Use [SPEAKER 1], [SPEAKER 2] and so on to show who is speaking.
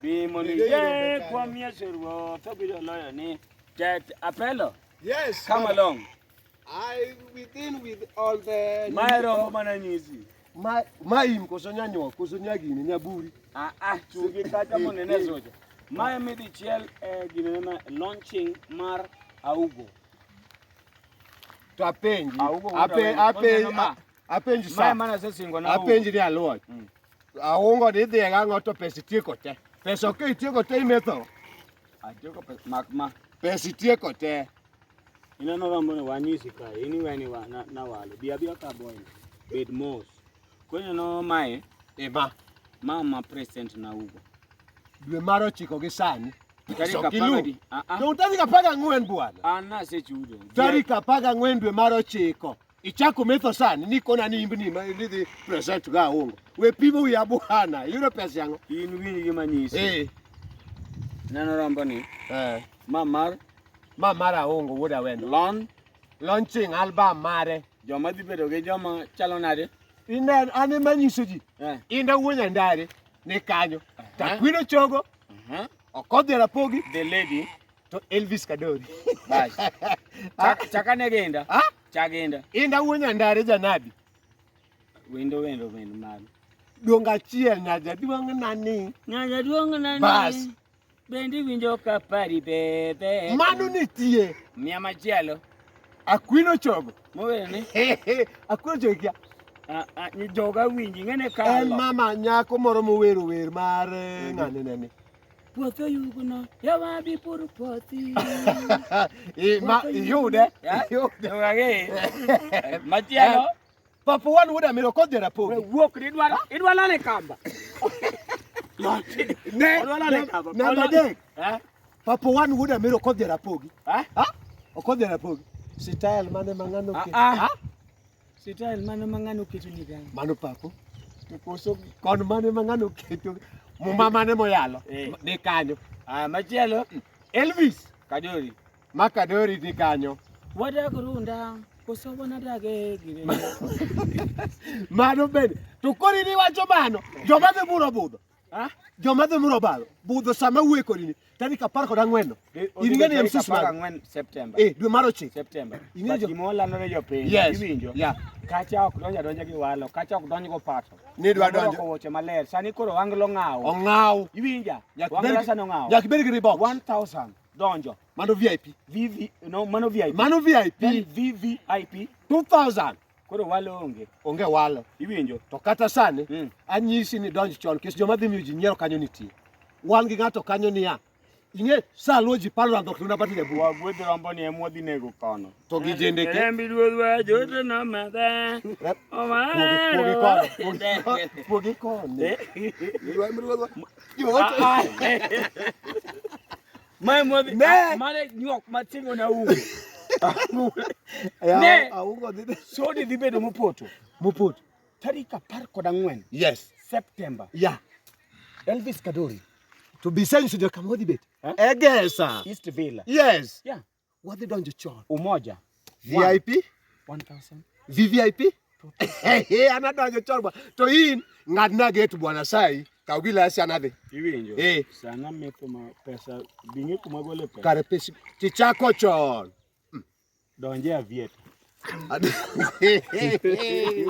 [SPEAKER 1] Bimo ni ye kwa miese ruo to biro loyo ni Tet Apelo. Yes. Come madam.
[SPEAKER 2] along.
[SPEAKER 1] I
[SPEAKER 2] within with all the Mae romo mana
[SPEAKER 1] nyisi. ma ma im
[SPEAKER 2] koso nyanyo koso nyagini nyaburi. Ah ah chungi
[SPEAKER 1] kata monene zoja. Mae mi dichiel eh, gine ma launching mar Augo.
[SPEAKER 2] To apenji. Augo wuod ape awendo. ape Oneno ma. apenji sa mana se singo na apenji
[SPEAKER 1] ni aluo
[SPEAKER 2] mm. aungo ni dhi ga ngoto pesi tieko te pesa ok itieko te imetho atieko
[SPEAKER 1] pesa mak ma pesi tieko
[SPEAKER 2] te ina no
[SPEAKER 1] rambo ne wanyisi ka ini weni wa na, na wale bia bia ka boy bed mos kwenye no mae eba mama president na ugo dwe mar
[SPEAKER 2] ochiko gi sani Tarik
[SPEAKER 1] apar
[SPEAKER 2] gang'wen bwana,
[SPEAKER 1] tarik apar gang'wen
[SPEAKER 2] dwe mar ochiko Ichako metho sani ni kona ni imbni ma idhi present ga ongo. We pimo wi abuhana, yudo pesa yango. In winji gima nyisi.
[SPEAKER 1] Eh. Neno rombo ni. Eh. Ma mar ma mar
[SPEAKER 2] aongo wuod awendo. Lon launching album mare. Joma dhi bedo gi
[SPEAKER 1] joma chalo nade? Inen ane
[SPEAKER 2] manyiso ji. Eh. Inda wuonya ndare ni kanyo. Eh. Takwino chogo. Eh. Okodhi rapogi. The lady.
[SPEAKER 1] to Elvis
[SPEAKER 2] Kadori basi
[SPEAKER 1] ah. chakane genda ah? chagenda inda uonya ndare
[SPEAKER 2] janabi wendo
[SPEAKER 1] wendo wendo mago duong'
[SPEAKER 2] achiel nyaja duong' nani nyaja duong' nani bas bendi
[SPEAKER 1] winjo ka pari bebe mano nitie
[SPEAKER 2] mia machielo
[SPEAKER 1] akwino
[SPEAKER 2] chogo mowene
[SPEAKER 1] akwino
[SPEAKER 2] chogo kia
[SPEAKER 1] joga winji ng'ene kalo en mama nyako moro
[SPEAKER 2] mowero wer mar eh, ng'ane nene puothi oyugno
[SPEAKER 1] yawa bi pur puothi
[SPEAKER 2] iyude
[SPEAKER 1] machielo eh, papa wan
[SPEAKER 2] wuod amiro kodhi rapogi wuok
[SPEAKER 1] idwa lale kamba ne
[SPEAKER 2] namba adek eh? papa wan wuod amiro kodhi rapogi eh? okodhi rapogi sitayel mane mang'ano ah, ah.
[SPEAKER 1] Sital mano ma ng'ano keto ni gani? Mano papo.
[SPEAKER 2] To koso kon mane ma ng'ano keto muma mane moyalo eh. ni kanyo. Ah, machielo
[SPEAKER 1] Elvis
[SPEAKER 2] Kadori.
[SPEAKER 1] Ma Kadori ni
[SPEAKER 2] kanyo. Wadak runda
[SPEAKER 1] koso wanadak e gire.
[SPEAKER 2] Mano bende. To kori ni wacho mano, joma dhi buro budho. Ah? Joma dhi muro balo budho sama wuoye kodini tarik apar kod ang'wen in ing'e ni en sis mag ang'wen Septemba eh
[SPEAKER 1] dwe mar ochiko
[SPEAKER 2] Septemba ing'e jo
[SPEAKER 1] gimola no
[SPEAKER 2] jo piny
[SPEAKER 1] yes. iwinjo yeah. kacha ok donja donja gi walo kacha ok donj go pato ni dwa donjo woche
[SPEAKER 2] maler sani
[SPEAKER 1] koro wanglo ng'aw ong'aw iwinja wanglo sani ong'aw yak beri gi ribok 1000
[SPEAKER 2] donjo
[SPEAKER 1] mano VIP
[SPEAKER 2] vivi no mano
[SPEAKER 1] VIP mano VIP
[SPEAKER 2] vivi
[SPEAKER 1] 2000
[SPEAKER 2] Koro walo
[SPEAKER 1] onge. Onge walo. Iwinjo?
[SPEAKER 2] To kata
[SPEAKER 1] sani
[SPEAKER 2] mm. anyisi ni donj chon kis joma dhi miyo ji nyiero kanyo nitie. Wan gi ng'ato kanyo niya. Inge sa lo ji palo rando tuna bati ne buwa. Gwedhi rombo ni emwa dhi
[SPEAKER 1] nego kono. To gi jende ke.
[SPEAKER 2] Embi duodwa jote
[SPEAKER 1] na mada. Omara. Pogi kono.
[SPEAKER 2] Pogi kono. Pogi kono.
[SPEAKER 1] Mae mwadhi Ne. ah, mane nyuok matingo na ugo. Ne.
[SPEAKER 2] Augo dhi. Sodi dhi bedo mopoto.
[SPEAKER 1] Mopot. Tarik apar kod ang'wen Yes. Septemba. Yeah. Elvis Kadori, To be saying
[SPEAKER 2] so kama odhi bet. Eh? Egesa. East Villa.
[SPEAKER 1] Yes. Yeah.
[SPEAKER 2] Wadhi donjo
[SPEAKER 1] chon.
[SPEAKER 2] Umoja.
[SPEAKER 1] VIP 1000. VVIP
[SPEAKER 2] anadonjo chon bwana. To in ng'adna gate bwana sai kaw gilasi anadhi. Iwinjo. Eh. Sana
[SPEAKER 1] mepo ma pesa bingi kuma gole pesa. Kare pesa tichako
[SPEAKER 2] chon.
[SPEAKER 1] Donje
[SPEAKER 2] avieta.